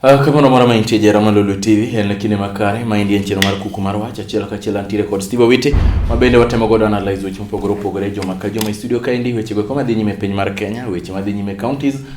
Ah, kama no mara maintie jera ma Lulu TV en kinde makare ma indie nchino mar kuku mar wach achiel ka achiel antiere kod Steve Witi ma bende watemo godo analyze weche mopogore opogore joma ka joma e studio ka endi weche go kama dhi nyime piny mar Kenya weche ma dhi nyime counties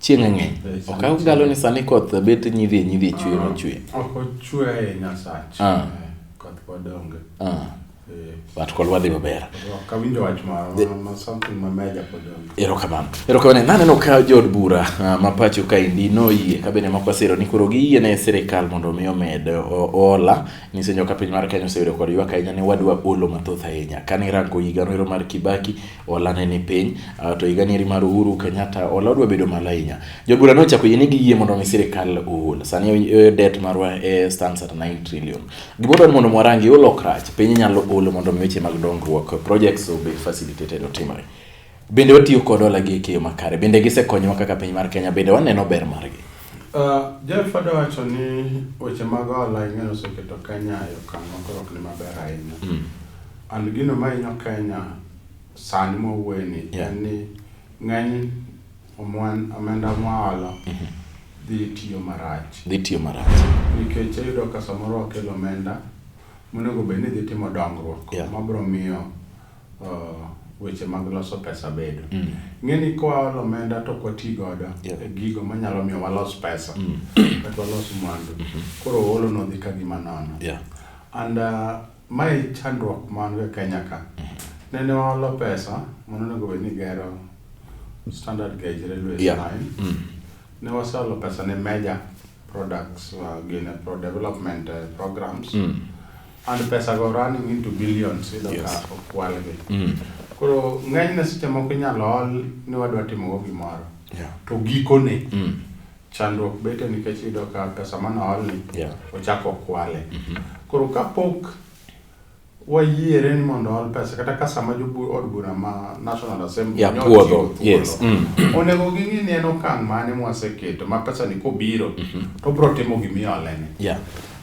Chieng' ng'eny. Ok agalo ni sani koth bet nyidhi nyidhi chwe ma chwe. Ok ochwe ahinya sach. Ah. Eh, Koth pod onge. Ah, Eh, but kolwa dhi maber. Ok awinjo wach ma ma- ma something ma meja pod onge. Erokamano. Erokamano. Naneno ka jood bura ah, ma pacho kaendi noyie ka bende moko siro ni koro giyie ne sirikal mondo omi omed o- ola. Nisenyo ka piny mar Kenya oseyudo kod ywak ahinya ni wadwa olo mathoth ahinya. Kane irango higano ero mar Kibaki Hola ne ni piny, ah, to higa nieri mar Uhuru Kenyatta hola odwa bedo malo ahinya. Jobura ne ochako yie ni giyie mondo omi sirkal ohol. Sani eh, eh, debt marwa eh, stands at 9 trillion. Gimoro en mondo mwarangi holo ok rach. Piny inyalo holo mondo omi weche mag dongruok, projects obed facilitated otimre. Bende watiyo kod hola gi e keyo makare. Bende gisekonyowa kaka piny mar Kenya. Bende waneno ber margi. Ah, Jeff adwa wacho ni weche mag hola ing'eyo oseketo Kenya e okang' ma koro ok ni maber ahinya. And gino mahinyo Kenya sani mwawuoyeni yeah. en ni ng'eny omenda mwaholo dhi tiyo marach dhi tiyo marach nikech ayudo ka samoro wakelo omenda monego bed ni dhi timo dongruok yeah. mabiro miyo uh, weche mag loso pesa bedo mm. ng'eni kowaolo omenda to kwati godo yeah. e gigo manyalo miyo walos pesa mm. kata walos mwandu mm -hmm. koro oolo nodhi ka gima nono yeah. and uh, Mae e chandruok ma wan go e Kenya ka. Nende waholo pesa mane onego bed ni gero standard gauge railway yeah. line. Mm. Ne waseholo pesa ne major products uh, gin uh, pro development uh, programs. Mm. And pesa go running into billions ido yes. ka okwal gi. Mm. Koro ng'enyne seche moko inyalo hol ni wadwa timo go gimoro. Yeah. To gikone. Mm. Chandruok bete nikech iyudo ka pesa mane oolni yeah. ochako okwale. Mm -hmm. Koro kapok wayiere ni mondo ool pesa kata ka sama od bura ma National Assembly yeah, puodho yes. mm. onego ging'i ni en okang' mane mwaseketo ma pesa ni kobiro mm -hmm. to bro timo gimiolene yeah.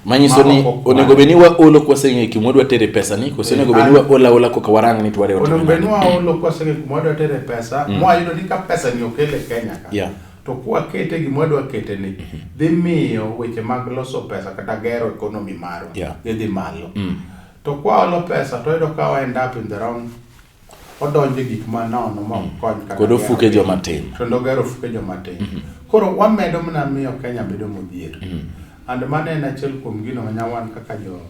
manyiso ni onego bed ni waolo kwaseng'e kuma wadwa tere pesa ni kose onego bed ni eh, waola ola koka warang ni tware onego bed ni waolo kwaseng'e kuma wadwa tere pesa mm. mwayudo ni ka pesa ni okel e kenya ka yeah. To kwakete gima wadwa kete ni mhm. dhi miyo weche mag loso pesa kata gero economy marwa yeah. dhi dhi malo. Mm. To kwaolo pesa to iyudo ka end up in the wrong odonje gik ma nono ma mm. kony kata kod ofuke joma tin. Kendo gero ofuke joma tin. Mm -hmm. Koro wamedo mana miyo Kenya bedo modhier. Mm -hmm. And mano en achiel kuom gino ma nyawan kaka jo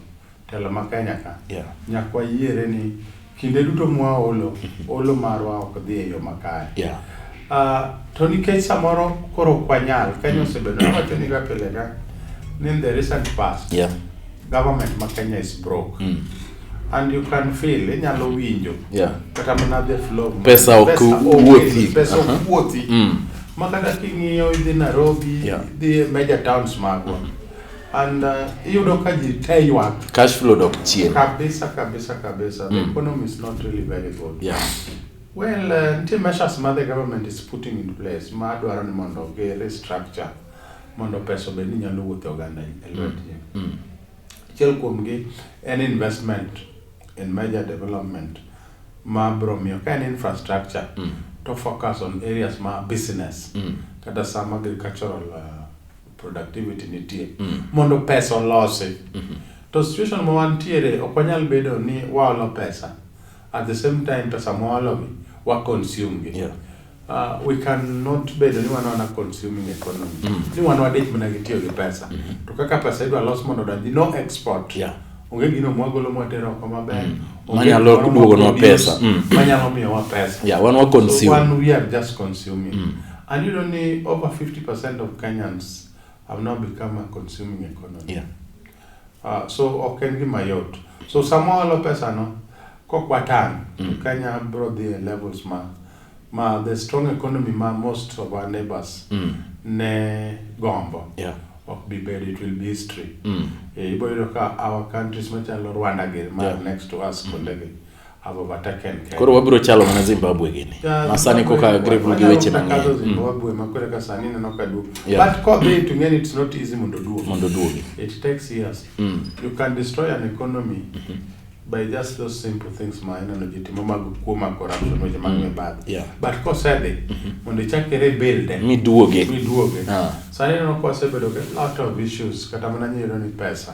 Telo ma Kenya ka. Yeah. Nyaka wayiere ni kinde duto mwaolo, olo marwa ok dhi e yo makare. Yeah. Ah, to nikech samoro koro ok wanyal, Kenya osebedo wacho ni ga pile ga ni in the recent past, Yeah. government ma Kenya is broke. Mm. And you can feel, inyalo winjo. Yeah. Kata mana the flow. Pesa ok onge, wuothi. Pesa Aha. ok wuothi. Mm. Ma kata king'iyo idhi Nairobi, Yeah. idhi e major towns magwa. and uh, iyudo ka ji te ywak cash flow dok chien kabisa kabisa kabisa the mm. economy is not really very good yeah well uh, nitie measures ma the government is putting in place ma dwaro ni mondo gi restructure mondo pesa obed ni nyalo wuotho oganda e mm. lwetgi mm. achiel mm. kuomgi en investment in major development ma bro miyo ka en infrastructure mm. to focus on areas ma business mm. kata some agricultural uh, productivity nitie mm. mondo pesa olosi mm -hmm. to situation ma wantiere ok wanyal bedo ni waolo pesa at the same time pesa mwaologi wa consume gi yeah. Uh, we cannot bedo ni wanaona consuming economy mm. ni wan wadich mana gi tiyo gi pesa mm -hmm. to kaka pesa idwa los mondo odonji no export yeah onge gino mwagolo mwatero oko maber mm. manyalo duogonwa pesa mm. manyalo miyowa pesa yeah, wan wa consume so, one we are just consuming mm. And you know, ni over 50% of Kenyans have now become a consuming economy. Yeah. Uh, so ok en gima yot. So sama walo pesa no, kokwatan, mm. to Kenya bro the levels ma, ma the strong economy ma most of our neighbors mm. ne gombo. Yeah. ok be bad it will be history mm. e, iboyudo ka our countries machalo rwanda gi ma yeah. next to us mm. kondegi koro wabiro chalo mana zimbabwe gini masani koka agribul gi weche mang'enymondo duogi by just those simple things ma ineno ji timo mag kuo mag corruption weche mag mm. mibadhi but kosedhi mm-hmm. mondo ichak ere bilde miduoge miduoge ah. sani ineno kosebedo a lot of issues kata mana nyero ni pesa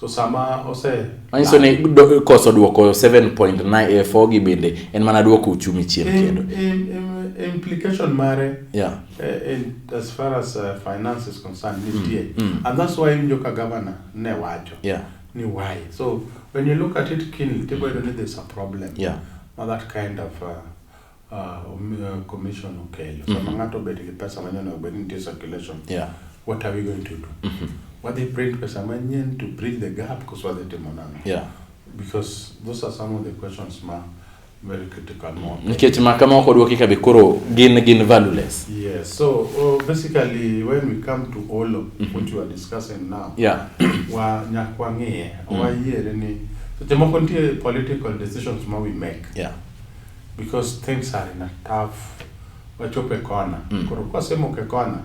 So sama ose manyiso ni do- koso duoko 7.94 gi bende en mana duoko uchumi chien Im- kendo im- im- implication mare yeah eh, in, as far as uh, finance is concerned nitie mm. and that's why injo ka governor ne wacho yeah ni why so when you look at it keenly tiboyudo ni there's a problem Yeah. ma that kind of uh, Ah, omiyo commission okeyo. Sama mm-hmm. ng'ato obet gi pesa manyien onego bed ni nitie circulation. Yeah. What are we going to do? Mm-hmm. Wadhi print pesa manyien to bridge the gap koso wadhi timo nang'o? Yeah. Because those are some of the questions ma very critical mo. Mm-hmm. Nikech ma kama ok odwoki ka be koro gin gin valueless. Yes. So oh, basically when we come to all of mm-hmm. what you are discussing now. Yeah. wa nyak wang'iye. Mm. Wayiere ni seche moko nitie political decisions ma we make. Yeah. because things are in a tough wachopo e kona mm. koro kwasemoko e kona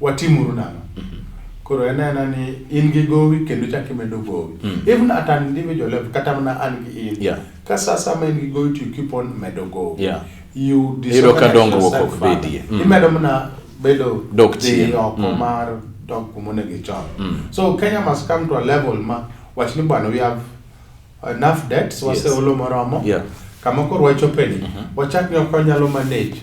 watimuru nang'o mm -hmm. koro en ena ni in gi gowi kendo chak imedo gowi mm. even at an individual level kata mana an gi in yeah. ka saa sama in gi gowi to you keep on medo gowi yeah. you iro ka dongruok ok bedie mm. imedo mana bedo dok chien oko mm. mar dok kumonego ichon mm. so kenya must come to a level ma wach ni bwana we have Enough debts, waseolo yes. moromo. Yeah. Kama koro wachopeni, uh mhm. -huh. wachak ni okonyalo manage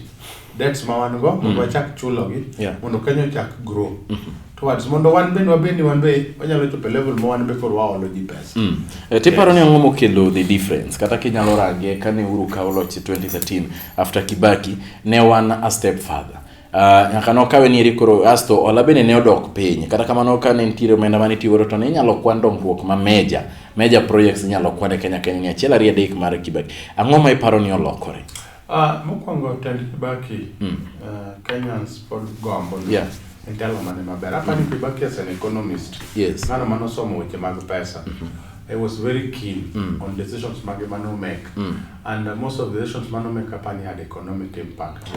debts ma wan go mondo mm. wachak chulogi yeah. mondo Kenya ochak grow mm -hmm. towards mondo wan bende wabed ni wan be wanyalo chopo level ma wan be koro waolo ji pesa mm. e, tiparo yes. ni ang'o mokelo the difference kata kinyalo range kane uru kawo loch 2013 after Kibaki ne wan a step further Uh, nyaka nokawe ni eri koro asto ola bende ne odok piny kata kamano ka ne nitiere omenda mane itiyo godo to ne inyalo kwan dongruok ma meja meja projects inyalo kwan e Kenya Kenya ni achiel ariyo adek mar Kibaki ang'o ma iparo ni olokore uh, mokwongo tend Kibaki mm. uh, Kenyans pod gombo yeah. en telo mane maber apani mm. Kibaki as an economist yes. ng'ano mane osomo weche mag pesa mm -hmm. I was very keen mm. on decisions Magemano make. Mm. And uh, most of the decisions Mano make upon had economic impact.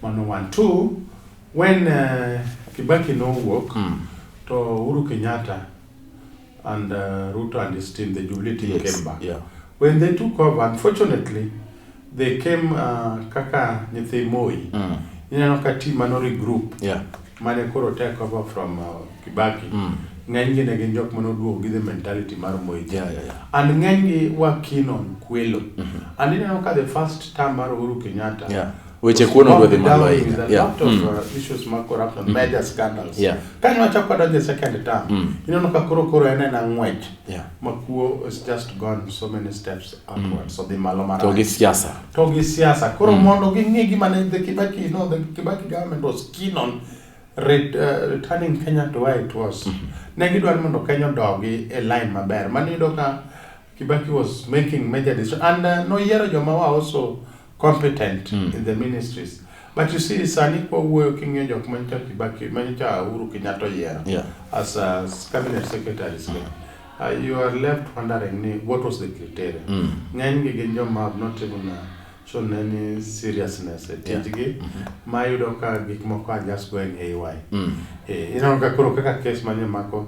Mano one two when uh, Kibaki nowuok mm. to Uhuru Kenyatta and uh, Ruto and his team the Jubilee team yes. came back yeah. when they took over unfortunately they came uh, kaka nyithi Moi mm. ineno ka team mano regroup yeah. mane koro take over from uh, Kibaki mm. ng'enygi ne gin jok mane oduogo gi the mentality mar Moi yeah, yeah, yeah. and ng'enygi were keen on kwelo mm -hmm. and ineno ka the first term mar Uhuru Kenyatta yeah weche kuon odwa dhi malo ahinya yeah. mm. uh, issues mag corruption mm. major scandals yeah. kane wachako wadonjo e second term mm. ineno ka koro koro en en ang'wech yeah. ma kuo is just gone so many steps upwards mm. odhi malo marach to gi siasa to gi siasa koro mm. mondo ging'e gima ne the Kibaki you know the Kibaki government was keen on ret, uh, returning Kenya to where it was mm -hmm. ne gidwaro mondo Kenya odogi e line maber mano yudo ka Kibaki was making major decision and uh, noyiero joma wa also competent mm. in the ministries but you see sani kwa wuoyo king'iyo jok manyicha Kibaki manyicha Uhuru Kenyatta oyiero yeah. as a cabinet secretary mm. uh, you are left wondering ni what was the criteria mm. ng'eny gi gin joma have not even uh, shown any seriousness e tijgi yeah. mm -hmm. ma yudo ka gik moko are just going haywire mm. eh, ineno ka koro kaka kes manye mako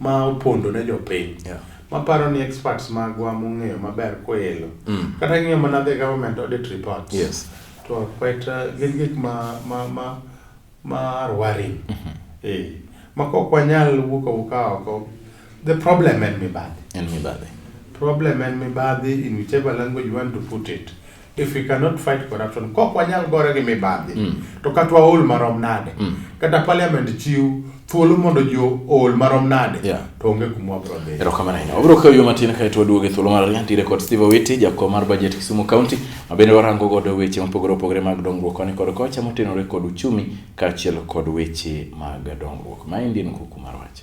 ma opondo ne jopiny yeah. maparo ni experts magwa mong'eyo maber koelo mm. kata ing'iyo mana the government audit reports yes. to quite uh, gin gik ma, ma, ma, ma rwaring mm -hmm. eh, ma kok wanyal wuok awuka oko the problem en mibadhi en mibadhi problem en mibadhi in whichever language you want to put it if we cannot fight corruption kok wanyal gore gi mibadhi mm. to kata waol marom nade mm. kata parliament chiw thuolo mondo ji ool marom nade yeah. to onge kuma wabro dhi erokamano ahinya wabro kawo yo matin kae to waduogo e thuolo mar ariyo ntiere kod steve owiti jakom mar budget kisumu county ma bende warango godo weche mopogore opogore mag dongruok koni kod kocha motenore kod uchumi kaachiel kod weche mag dongruok maendi en kuku mar wache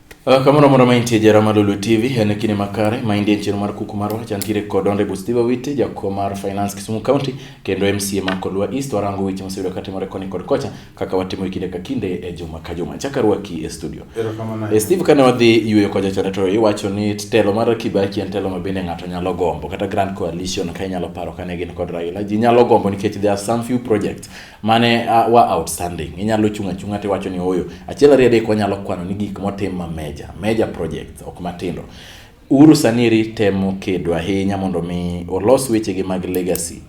Ah, kamoro amora ma intie jara mar Lolwe TV en kinde makare ma indie chenro mar kuku marwa chantiere kod Honorable Steve Awiti jakom mar Finance Kisumu County kendo MCA ma Kolwa East warango weche moseyudo katimore koni kod kocha kaka watimo kinde ka kinde e juma ka juma chaka rwaki e studio e Steve kane wadhi yueyo kwa jachon to iwacho ni telo mar Kibaki en telo ma bende ng'ato nyalo gombo kata Grand Coalition ka inyalo paro kane gin kod Raila ji nyalo gombo nikech there are some few projects mane uh, wa outstanding inyalo chung' achung'a to iwacho ni oyo achiel ariyo adek wanyalo kwano ni gik motim ma meja meja project ok matindo Uhuru Saniri temo kedo ahinya mondo mi olos wechegi mag legacy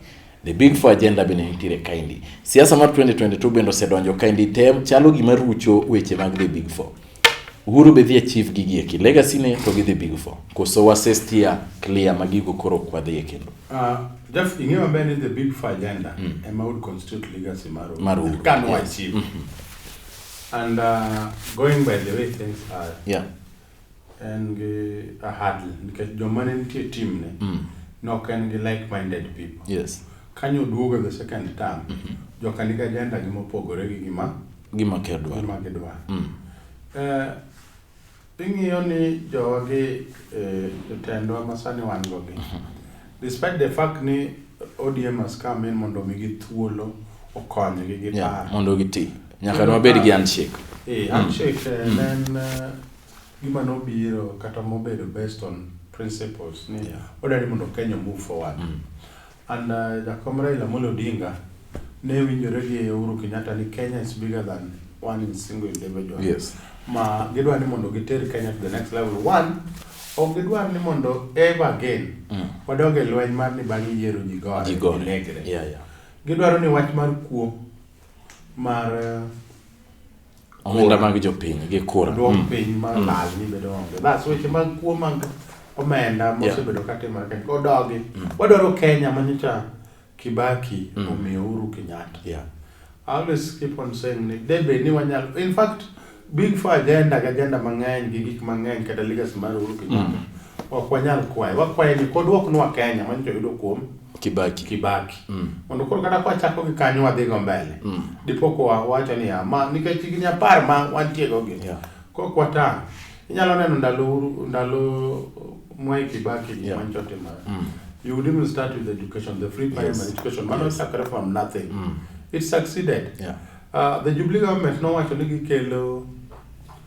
the big four agenda bende nitiere kaendi siasa mar 2022 bende osedonjo kaendi tem chalo gima rucho weche mag the big four Uhuru be dhi achieve gigi eki legacy ne to gidhi big four koso wase steer clear ma gigo koro ok wadhi e kendo Ah, Jeff, ing'eyo maber ni the big four agenda ema would constitute legacy mar Uhuru. Mar Uhuru, Ka no yes. achieve. And uh, going by the way things are, yeah en gi a hurdle nikech joma ne nitie team ne nok en gi like minded people. yes Kanyo oduogo the second term, joka nigi agenda gi mopogore gi gima gima gidwaro. Gima gidwaro. Mm. Eh, ing'iyo ni jowagi eh, jotendwa ma sani wan go gi mhm. despite the fact ni ODM has come in mondo omigi thuolo okonygi gi yeah, mondo giti nyaka wabed gi handshake eh, mm. handshake eh, mm. en eh, gima nobiro kata mobedo based on principles ni yeah. odari mondo Kenya move forward mm. And uh, Jakom Raila Amolo Odinga ne winjore gi Uhuru Kenyatta ni Kenya is bigger than one in single individual. Yes. Ma gidwa ni mondo giter Kenya to the next level. One, ok gidwar ni mondo ever again mm. wadog e lweny mar ni bang' yiero ji gore negre. Yeah, yeah. Gidwaro ni wach mar kuo mar uh, omenda mag jopiny gi kura dwok mm. piny ma mm. lal ni bedo onge bas weche mag kuo mag omenda mosebedo ka timore kendo odogi mm. wadwaro Kenya ma nyocha Kibaki omiyo Uhuru Kenyatta yeah. I always keep on saying ni debe ni wanyalo in fact big for agenda ga agenda mang'eny gi gik mang'eny kata legacy mar Uhuru Kenyatta Ok wanyal kwaye. Wakwaye ni kodwoknwa Kenya mano to yudo kuom Kibaki. Kibaki. Mm. Mondo koro kata kwa chako gi kanyo wadhi go mbele. Mm. Dipo kwa wacho ni ama nikech higni apar ma wantie go gi. Yeah. Kok wata. Inyalo neno ndalo ndalo Mwai Kibaki yeah. mano to timore. Mm. You would even start with education, the free primary yes. education. Mano yes. chakre from nothing. Mm. It succeeded. Yeah. Uh, the Jubilee government nowacho ni gikelo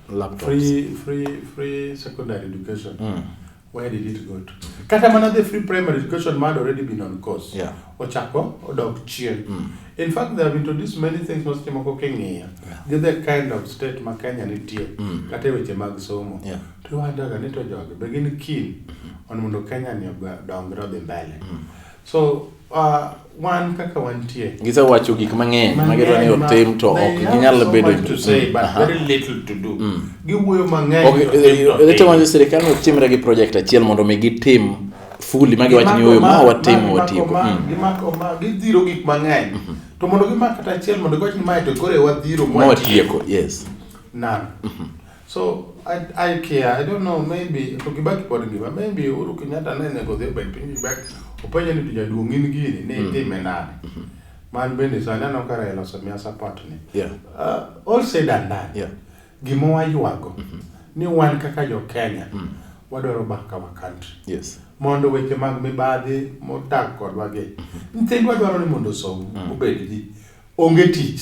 laptops. Free, free, free secondary education. Mm. Where did it go to? Kata mana the free primary education had already been on course. Yeah. Ochako odok chien. Mm. In fact, they have introduced many things ma seche moko king'iyo. Yeah. Gi the kind of state ma Kenya nitie. Mm. Kata e weche mag somo. Yeah. To iwandaga ni to jogi be gin keen on mondo Kenya ni odongre odhi mbele. Mm. So, uh, wan kaka wantie. Gisewacho gik mang'eny ma gidwa ni otim to ok ginyal bedo to say but uh-huh. very little to do. Mm. Giwuoyo mang'eny. Okay, they tell you sirikal no timre gi project achiel mondo mi gitim fully ma giwacho ni oyo ma watimo watimo. Mm. Gimako ma gidhiro gik mang'eny. Mm-hmm. To mondo gimak kata achiel mondo giwacho ni mae to kore wadhiro mwatieko. Yes. None. Mm-hmm. So I, I care. I don't know maybe to Kibaki pod ngima. Maybe Uhuru Kenyatta ne nego dhi obet piny Kibaki. Openje ni tija duong' in gini ne itime mm. nade. Mm-hmm. Man bende so aneno ka Raila osemia support ni. Yeah. Uh, all said and done. Yeah. Gima waywago mm-hmm. ni wan kaka jo Kenya mm. wadwaro baka wa country. Yes. Mondo weche mag mibadhi modak kodwa gi. Mm-hmm. Nyithindwa dwaro ni mondo osom obed ji. Onge tich.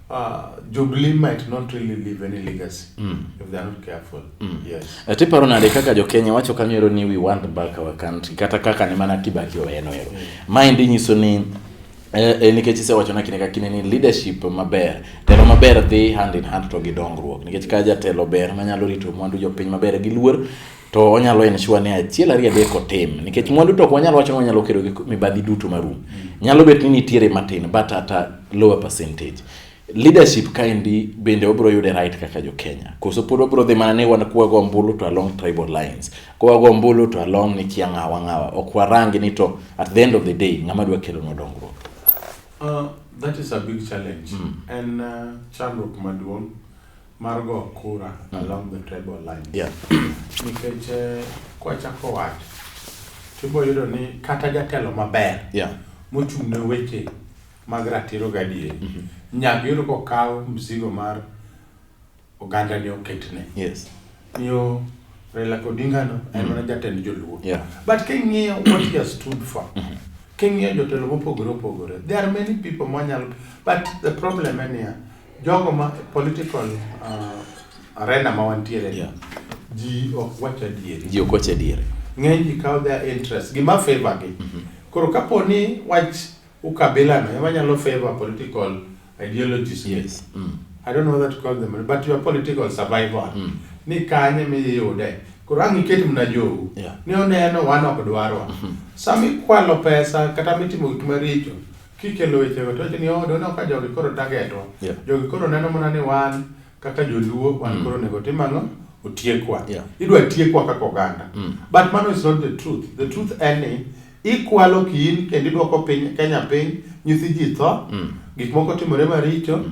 Uh, Jubilee might not really leave any legacy mm. if they are not careful. Mm. Yes. Ati paro nade kaka jo Kenya wacho kamero ni we want back our country kata kaka ni mana Kibaki oweno ero. Mm. Mind nyiso ni eh, eh, nikech isewacho na kine ka kine ni leadership maber telo maber dhi hand in hand to gi dongruok nikech ka jatelo ber manyalo rito mwandu jopiny maber gi luor to onyalo ensure ni achiel ariyo adek otim nikech mwandu to ok wanyal wacho ni wanyalo kedo gi mibadhi duto marum nyalo bet ni nitiere matin but at a lower percentage leadership kaendi bende wabiro yude right kaka jo Kenya koso pod wabiro dhi mana ni wan kwago ombulu to along tribal lines kwago ombulu to along ni kia ng'awa ng'awa ok warangi ni to at the end of the day ng'ama dwa kelo no dongruok uh, that is a big challenge mm. and uh, chandruok maduong' mar go kura along the tribal line. Yeah. Nikech eh, kwachako wach tibo yudo ni kata jatelo maber Yeah. mochung' ne weche mag ratiro gadieri nyaka yudo kokaw msigo mar oganda ni oketne Yes. yo Raila Odinga no en mana jatend joluo Yeah. but king'iyo what he has stood for king'iyo jotelo mopogore opogore there are many people mwanyalo but the problem en niya Jogo ma political uh, arena ma wantiere yeah. ji ok wach adieri. Ji ok wach adieri. Ng'eny ji kawo their interest gima favor gi. Mm -hmm. Koro kapo ni wach ukabila no ema nyalo favor political ideologies. Yes. Mm. I don't know what to call them but your political survival. Mm. Ni kanye miyude. Koro ang' iket mna jowu. Yeah. Ni oneno wan ok dwarwa. Mm -hmm. Sama ikwalo pesa kata mitimo gik maricho Kikelo wechego to wacho ni oh, dono ka jogi koro targetwa. Yeah. Jogi koro neno mana ni wan kaka joluo wan mm. koro nego tim ang'o? Otiekwa. Yeah. Idwa tiekwa kaka oganda. Mm. But mano is not the truth. The truth en ni ikwalo kiin kendo idwoko piny Kenya piny, nyithi ji tho, mm. gik moko timore maricho. Mm.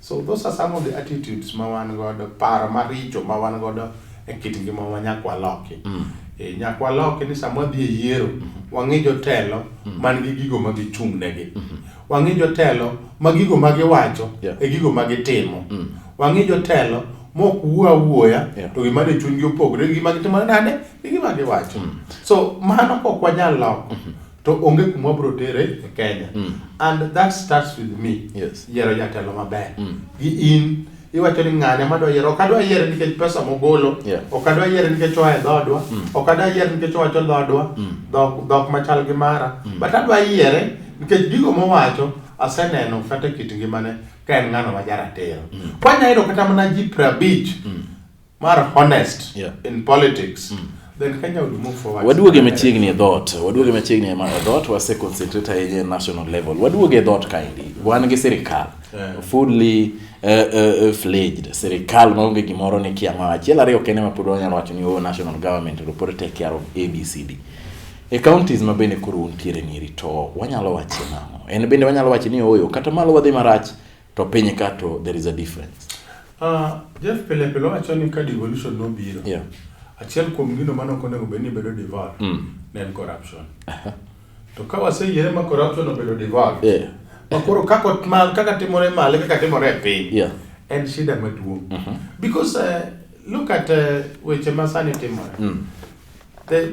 So those are some of the attitudes ma wan godo, paro maricho ma wan godo e kit ngima ma nyaka waloki. Mm. E, nyaka waloki ni sama wadhi e yiero, mm -hmm. wang'i jotelo mm -hmm. man gi gigo ma gichung' negi. Mm -hmm. Wang'i jotelo ma gigo ma giwacho yeah. e gigo ma gitimo. Mm. Wang'i jotelo mok wuo awuoya yeah. to gima ne chunygi opogre gi gima gitimo nade gi gima giwacho. Mm. So mano ok wanyal loko. Mm -hmm. to onge kuma wabro tere e Kenya mm. and that starts with me yes. yiero jatelo maber mm. gi in iwacho ni ng'ane madwa yiero ok adwa yiere nikech pesa mogolo yeah. ok adwa yiere nikech oa e dhoodwa mm. ok adwa yiere nikech owacho dhoodwa mm. dhok, dhok machal gi mara mm. but adwa yiere nikech gigo mowacho aseneno kata kit ngimane ka en ng'ano ma jaratiro mm. kwanyayudo kata mana ji prabich mm. mar honest yeah. in politics mm. Waduoge e machiegni e dhot, waduoge e machiegni e dhot, wase concentrate ahinya e national level. Waduoge e dhot kaendi, wan gi sirikal yeah. fully uh, uh, fledged sirikal maonge gimoro ni kia ma achiel ariyo kende ma pod wanyalo wacho ni oh, national government to pod take care of abcd e counties ma bende koro untiere niri to wanyalo wacho nang'o en bende wanyalo wacho ni oyo kata malo wadhi marach To piny ka to there is a difference. Uh, Jeff pile pile wacho ni ka devolution nobiro. Yeah. Achiel kuom gino mane ok onego bed ni bedo devolved mm. ne en corruption. Uh -huh. To ka waseyiere ma corruption obedo devolved. Yeah. Ma koro kaka ma kaka timore male kaka timore e piny. Yeah. En shida maduong'. Uh mm-hmm. -huh. Because uh, look at uh, weche ma sani timore. Mm. The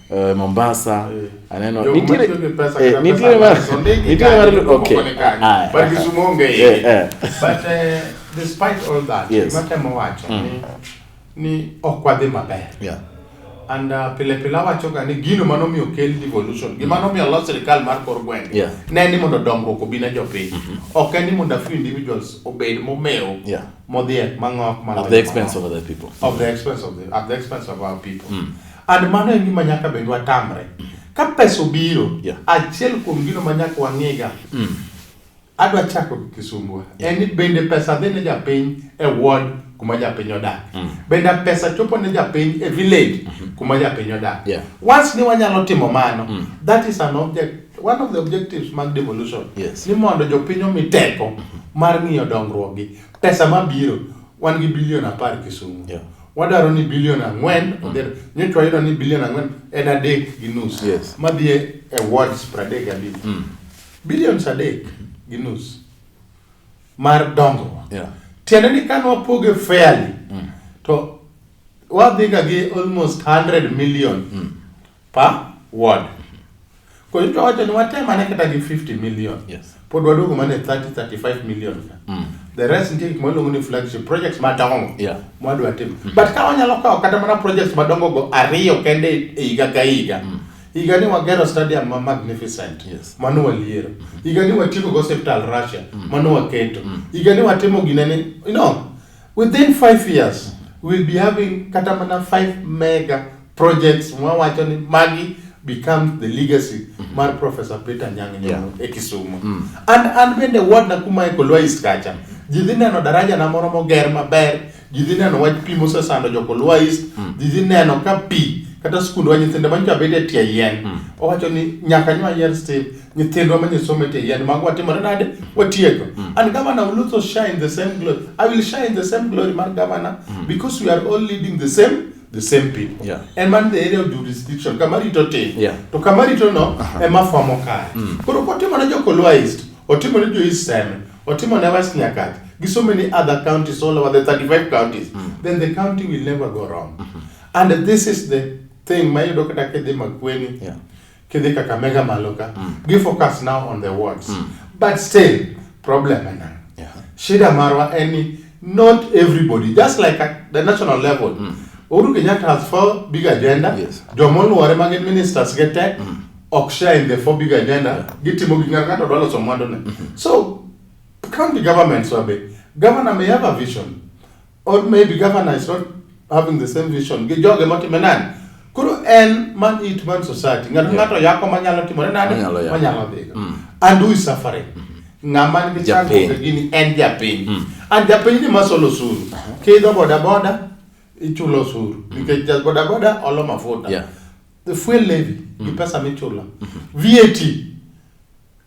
uh, Mombasa eh. aneno nitire eh, nitire mar nitire mar okay ah, but Kisumu onge yeah, but uh, despite all that yes. matemo wacho mm. ni ni ok wadhi maber yeah and uh, pile pile awachoga ni gino mano miyo kel devolution gima mm. nomiyo los sirikal mar kor gwenge yeah. ne ni mondo dongruok obi ne jopiny mm -hmm. ok en ni mondo a few individuals obed momewo yeah. modhiek mang'ok at the expense of other people of the expense of the, at the expense of our people mm. And mano en gima nyaka bed watamre. Ka pesa obiro, Yeah. achiel kuom gino ma nyaka wang'iga, adwa chako gi Kisumbwa. En ni bende pesa dhi ne japiny e ward kuma japiny odak. Bende pesa chopo ne japiny e village kuma japiny odak. Yeah. Once ni wanyalo timo mano, that is an object, one of the objectives mag devolution. Yes. Ni mondo jopiny omi teko mar ng'iyo dongruokgi. Pesa mabiro, wan gi bilion apar Kisumu. Yeah. wadwaro ni bilion ang'wen mm. odhi nyocha wayudo ni bilion ang'wen en adek gi nus yes. madhi e wards pradek gabich mm. bilions adek gi nus mar dongruok yeah. tiende ni kane wapoge fairly mm. to wadhiga gi almost 100 million mm. per ward koro to wacho ni watem ane kata gi 50 million yes. pod waduogo mane 30 35 million ka mm. the rest nitie gik maluongo ni flagship projects madongo yeah. mwadwa timo mm. but ka wanyalo kawo kata mana projects madongo go ariyo kende e higa ka higa mm higa ni wagero stadium ma magnificent yes. mano waliero mm -hmm. higa ni watieko go hospital Russia mm -hmm. mano waketo mm -hmm. higa ni watimo gine ni you know Within five years we'll be having kata mana five mega projects mwawacho ni magi becomes the legacy mm -hmm. mar Professor Peter Nyang' Nyong'o yeah. e Kisumu mm. and an bende ward na kuma e Kolwa East kacha ji dhi neno daraja na moro moger maber ji dhi neno wach pi mosesando jo Kolwa East mm. ji dhi neno ka pi kata skundwa nyithinde manyocha bet e tie yien mm. owacho ni nyaka nywa yer stim nyithindwa ma nyisomo e tie yien mag watimore nade watieko mm. and governor will also shine the same glory i will shine the same glory mar governor mm. because we are all leading the same the same people yeah. and man the area of jurisdiction kama rito tin yeah. to kama rito no uh -huh. ema famo kare mm. koro kotimo ne jokolwa east otimo ne jo east seme otimo ne west nyakati gi so many other counties all over the 35 counties mm. then the county will never go wrong mm -hmm. and this is the thing mayudo kata kidhi makweni yeah. kidhi Kakamega malo ka mm. gi focus now on the wards mm. but still problem ena yeah. shida marwa en ni not everybody just like at the national level mm. Uhuru Kenyatta has four big agenda yes. jomoluore ma gin ministers gi te mm. ok share in the four big agenda yeah. gitimo gi ng'ato ng'ato dwa loso mwandu ne mm -hmm. so county governments wabe governor may have a vision or maybe governor is not having the same vision gi joge motime nani koro en man it man society ng'ato Yeah. ng'ato yako manyalo timore nani Manyalo yako. manyalo dhigo Mm. and who is suffering ng'ama nigi Japiny. chandruok e gini en japiny Mm. and japiny ni masolo osuru kiidho bodaboda ichulo osuru nikech ja bodaboda olo mafuta Yeah. the fuel levy gi pesa michulo vat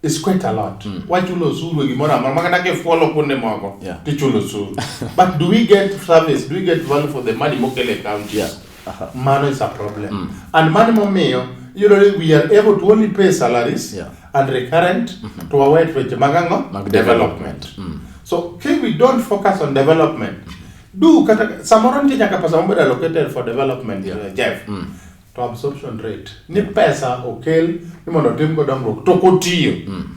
It's quite a lot. Mm. Wachulo osuru e gimoro amora makata kifuolo kuonde moko yeah. tichulo osuru. But do we get service? Do we get value for the money mokele e counties? Yeah. Uh -huh. Mano is a problem. Mm. And money momiyo you know we are able to only pay salaries yeah. and recurrent mm -hmm. to our weche mag ang'o? Mag development. development. Mm. So okay, we don't focus on development. Mm. Do kata samoro nitie nyaka pesa mobedo allocated for development yeah. uh, Jeff. Mm. to absorption rate ni pesa okel ni mondo otim go dongruok to kotiyo mm.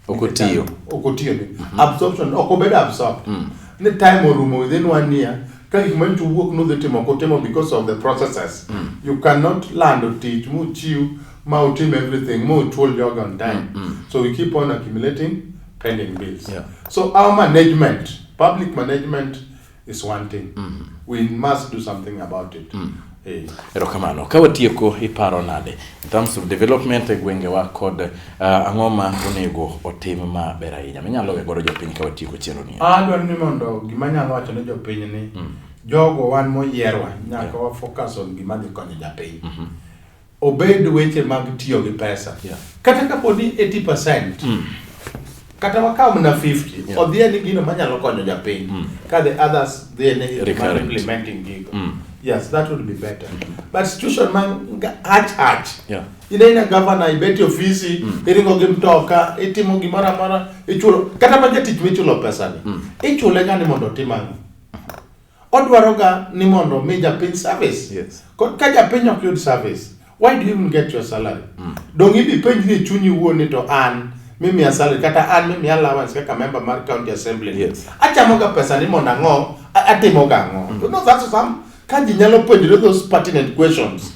okotiyo okotiyo ni mm-hmm. absorption ok obed absorbed mm. ni time orumo within one year ka gik manyicho wuok nudhi timo kutimo because of the processes mm. you cannot lando tich muchiw ma utim everything ma uchuol joga on time mm, mm. so we keep on accumulating pending bills yeah. so our management public management is one thing. Mm. We must do something about it. Mm. Hey. Erokamano. Ka watieko iparo nade in terms of development e gwengewa kod uh, ang'o ma onego otim ma ber ahinya minyalo we godo jopiny ka watieko chenro ni? Ah, adwaro ni mondo gima nyalo wacho ne jopiny ni mm. jogo wan moyierwa nyaka yeah. wa focus on gima dhi konyo japiny. Mm -hmm. Obed weche mag tiyo gi pesa. Yeah. Kata kapo ni 80%. Mm. Kata wakaw mna 50. Yeah. Odhiye ni gino manyalo konyo japiny. Mm. Ka the others dhiye ni implementing gigo. Mm. Yes, that would be better. Mm -hmm. But situation man hach hach. Yeah. Ine ina governor ibeti ofisi, mm. iringo gi mtoka, itimo gimoro amora, ichulo kata ma jatich michulo pesa ni. Mm. Ichule gani mondo otim ang'o? Odwaroga ni mondo omi japiny service. Yes. Ko- Ka japiny ok yud service, why do you even get your salary? Donge idhi penjri e chunyi iwuon ni to an mimiya salary kata an mimiya allowance kaka member mar county assembly. Yes. Achamoga pesa ni mondo ang'o, a- atimoga ang'o. You know, that's some, ka ji nyalo penjre those pertinent questions.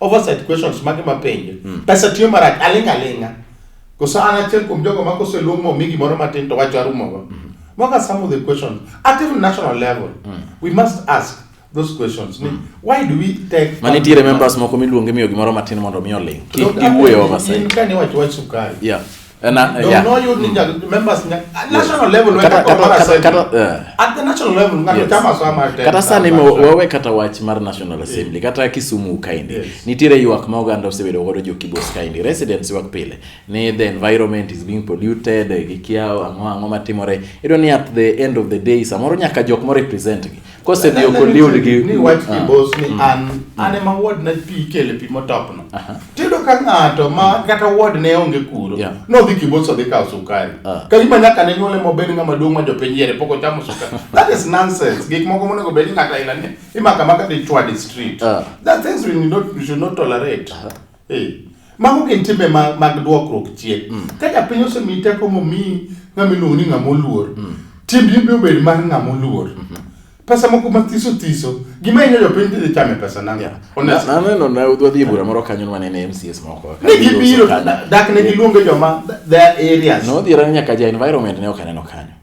oversight questions mage mapenjo mm. pesa tiyo marach aling' aling'a koso an achiel kuom jogo ma koseluong momi gimoro matin to wacho arumogo mm. Mm-hmm. what are some of the questions at even national level mm. we must ask those questions mm. why do we take mani tiere members moko miluonge miyo gimoro matin mondo mi oling' kik giwuoye oversight in kane wacho wach sukari yeah And I, uh, yeah. no you ninja members nya at national level when kata kata kata at the national level ngani chama so ma kata sani mo wewe kata wach mar national assembly kata Kisumu kaindi yes. nitire yuak ma oganda osebedo godo jo kibos kaindi residents wak pile ni the environment is being polluted gikiao ang'o ang'o matimore ido ni at the end of the day samoro nyaka jok mo represent gi kosedhi ok oliwri gi ni wach ah. kibos ni mm. an mm. an ema ward na pi kele pi motopno tiyudo ka ng'ato ma kata ward ne onge kuro nodhi kibos odhi kawo sukari ah. ka gima nyaka ne nyuole mobed ng'ama duong' ma jopiny yiere pok ochamo sukari that is nonsense gik moko monego bed ni ng'ato aila ni imaka maka dichwa di street ah. that things we, not, we should not tolerate Mago gin timbe mag duokruok chien. Mm. Ka japiny osemi teko momi ng'ama iluongo ni ng'ama oluor, mm. timbi biro bedo mar ng'ama oluor. Mm-hmm. Pesa moko mathiso thiso, gima inyo jopiny dhi chame pesa nang'o? Naneno na wadhi e bura moro kanyo nwa nene MCS moko. Ne gibiro, dak ne giluonge joma their areas. Nodhi rang nyaka ja environment ne ok aneno kanyo.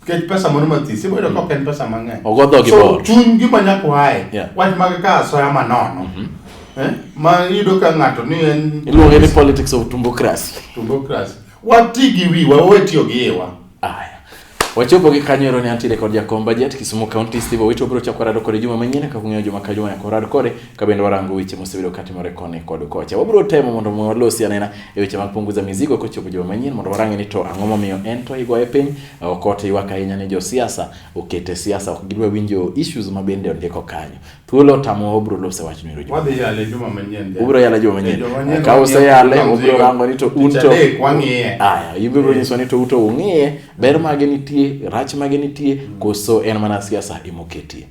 Nikech pesa moro mathis, iboyudo mm. ka ok en pesa mang'eny. Ogo dhogi so, bor. Chuny gima nyaka wae. Yeah. Wach mag ka asoya manono. Mm -hmm. Eh? Ma yudo ka ng'ato ni en... Iluonge ni politics of tumbocracy. Tumbocracy. Wati gi wi, wawe tiyo gi iwa. Aya. Wachopo gi kanyo ero ni antiere kod jakom budget Kisumu County Steve Owito bro chako rado kore juma manyien kaka ung'eyo juma ka juma yako rado kore ka bende warango weche mosebedo katimore koni kod kocha. Wabiro temo mondo walosi anena e weche mag punguza mizigo kochopo juma manyien mondo warangi ni to ang'o momiyo en to igoye piny ok ote ywak ahinya ni josiasa okete siasa ok gidwa winjo issues ma bende ondiko kanyo. Thuolo tamo wabiro lose wach ni juma. Wadhi yale juma manyien. Ubiro yale juma manyien. Ka use yale ubiro rango ni to un to wang'iye. Aya, ibiro nyiso ni to uto ung'iye ber mage nitie, rach mage nitie koso en mana siasa emoketie.